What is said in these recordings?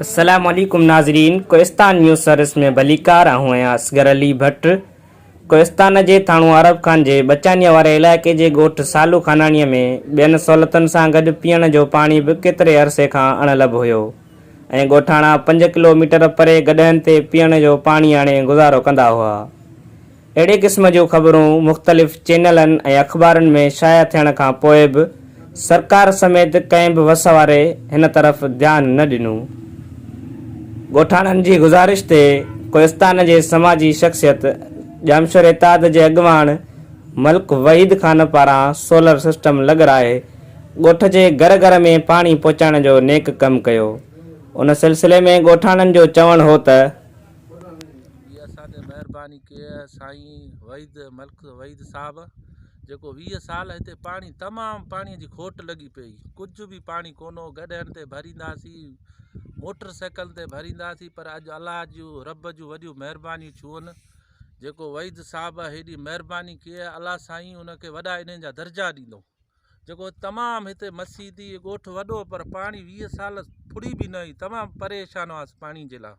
السلام عليڪم ناظرين ڪوهستان نيوز سروس ۾ ڀليڪار آئون آهيان اصغر علي ڀٽ ڪوهستان جي ٿاڻو عرب خان جي بچانيا واري علائقي جي ڳوٺ سالو خاناڻي ۾ ٻين سهولتن سان گڏ پيئڻ جو پاڻي به ڪيتري عرصي کان اڻ لڀ هيو ۽ ڳوٺاڻا پنج ڪلو ميٽر پري گڏهن تي پيئڻ جو پاڻي آڻي گذارو ڪندا هئا اهڙي قسم جون خبرون مختلف چينلن ۽ اخبارن ۾ شايع ٿيڻ کان پوء به سرڪار سميت ڪنهن به وس واري هن طرف ڌيان نه ڏنو. ڳوٺاڻن جي گذارش تي ڪوهستان جي سماجي شخصيت ڄامشوري اتحاد جي اڳواڻ ملڪ وحيد خان پاران سولر سسٽم لڳرائي ڳوٺ جي گهر گهر ۾ پاڻي پهچائڻ جو نيڪ ڪم ڪيو. ان سلسلي ۾ ڳوٺاڻن جو چوڻ هو ته. جي اسان تي مهرباني ڪئي سائين وحيد ملڪ وحيد صاحب جيڪو ويهه سال هتي پاڻي تمام پاڻي جي کوٽ لڳي پئي ڪجهه به پاڻي ڪونه هو گڏهن تي ڀرينداسين موٽر سائيڪل تي ڀرينداسين پر اڄ الله جون رب جون وڏيون مهربانيون ڇون جيڪو وحيد صاحب هيڏي مهرباني ڪئي الله سائين ان کي وڏا انعام جا درجا ڏيندو جيڪو تمام هتي مسيدي ڳوٺ وڏو پر پاڻي ويهه سال ڦڙي به نه آئي تمام پريشان هئاسي پاڻي جي لاء.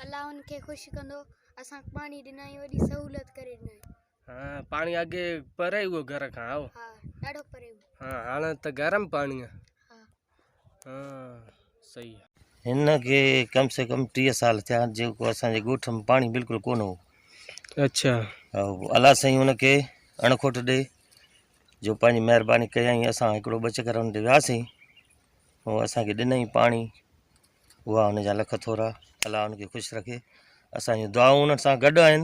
الله ان کي خوش ڪندو اسانک پاڻي ڏنائين وڏي سهولت ڪري ڏنائين. ها پاڻي اڳي پري هئو گهر کان هائو. ها ڏاڍو پري هئو. ها هاڻ ته گرم پاڻي ها. هن کي ڪم سي ڪم ٽيهه سال ٿيا جيڪو اسان جي ڳوٺ ۾ پاڻي بلڪل ڪونه هو اڇا الله سائين هن کي اڻکوٽ ڏي جو پنهنجي مهرباني ڪيائين اسان هڪڙو ٻه چڪر هن تي وياسين هو اسان کي ڏنائين پاڻي اها هن جا لک ٿورا الله هن کي خوش رکي اسان جون دعائون انهن سان گڏ آهن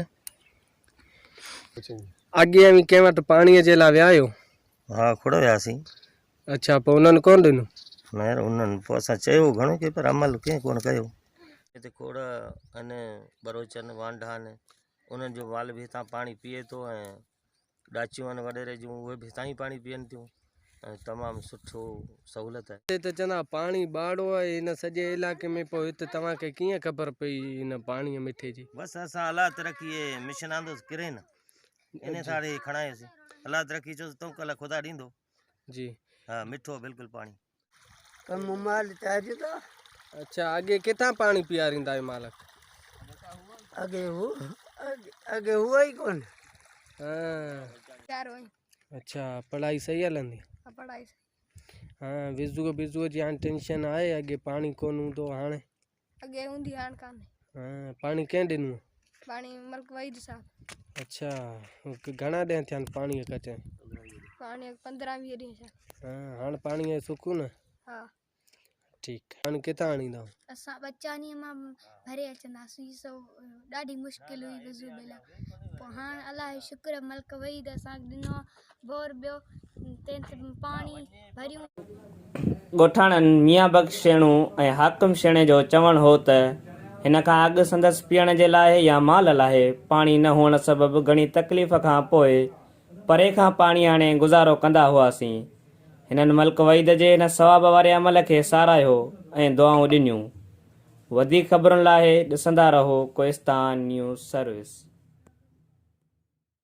اڳي اوهين ڪنهن وٽ پاڻي جي لاء ويا آهيو ها کوڙ وياسين اڇا پوء انهن ڪونه ڏنو؟ نير انهن پوء اسان چيو گهڻو ڪي پر عمل ڪنهن ڪونه ڪيو. هتي کوڙ آهن ٻروچن، وانڍا آهن، انهن جو مال به هتان پاڻي پيئي ٿو ۽ ڏاچيون آهن وڏيري جون اهي به هتان ئي پاڻي پيئن ٿيون ۽ تمام سٺو سهولت آهي. هتي ته چوندا پاڻي ٻاڙو آهي هن سڄي علائقي ۾ پوء هتي توهان کي ڪيئن خبر پئي هن پاڻي مٺي جي؟ بس اسان الله ترقي هي مشن آندوس ڪرين انهي ساڙي کڻايوسين الله ترقي چيو ته تون کي الله خدا ڏيندو. جي ها مٺو بلڪل پاڻي تم مال چاهي ٿا اچھا اڳي ڪٿان پاڻي پياريندا آهي مالڪ اڳي هو اڳي هو ئي ڪون ها اچھا پڙهائي صحيح هلندي ها پڙهائي ها وزو بزو جي هاڻي ٽينشن آهي اڳي پاڻي ڪون هوندو هاڻي اڳي هوندي هاڻ ڪانهي. ها پاڻي ڪنهن ڏنو. پاڻي ملڪ وحيد صاحب. اڇا گهڻا ڏينهن ٿيا آهن پاڻي ڪٽي. پاڻي پندرهن ويهه ڏينهن ٿيا. ها هاڻ پاڻي جو سڪون آهي. ها ٺيڪ آهي پاڻي ڪٿان آڻيندا. اسان ٻچانيء مان ڀري اچنداسين سو ڏاڍي مشڪل هئي وضو بيلا پوء هاڻ الله جو شڪر ملڪ وحيد اسان کي ڏنو آهي ڳوٺاڻن ميان بخش شيڻو ۽ حاڪم شيڻي جو چوڻ هو ته هن کان اڳ سندس پيئڻ جي لاء يا مال لاء پاڻي نه هئڻ سبب گهڻي تڪليف کان پوء پري کان پاڻي آڻي گذارو ڪندا هئاسين. هنن ملڪ وحيد جي هن ثواب واري عمل کي ساراهيو ۽ دعائون ڏنيون. وڌيڪ خبرن لاء ڏسندا رهو ڪوهستان نيوز سروس.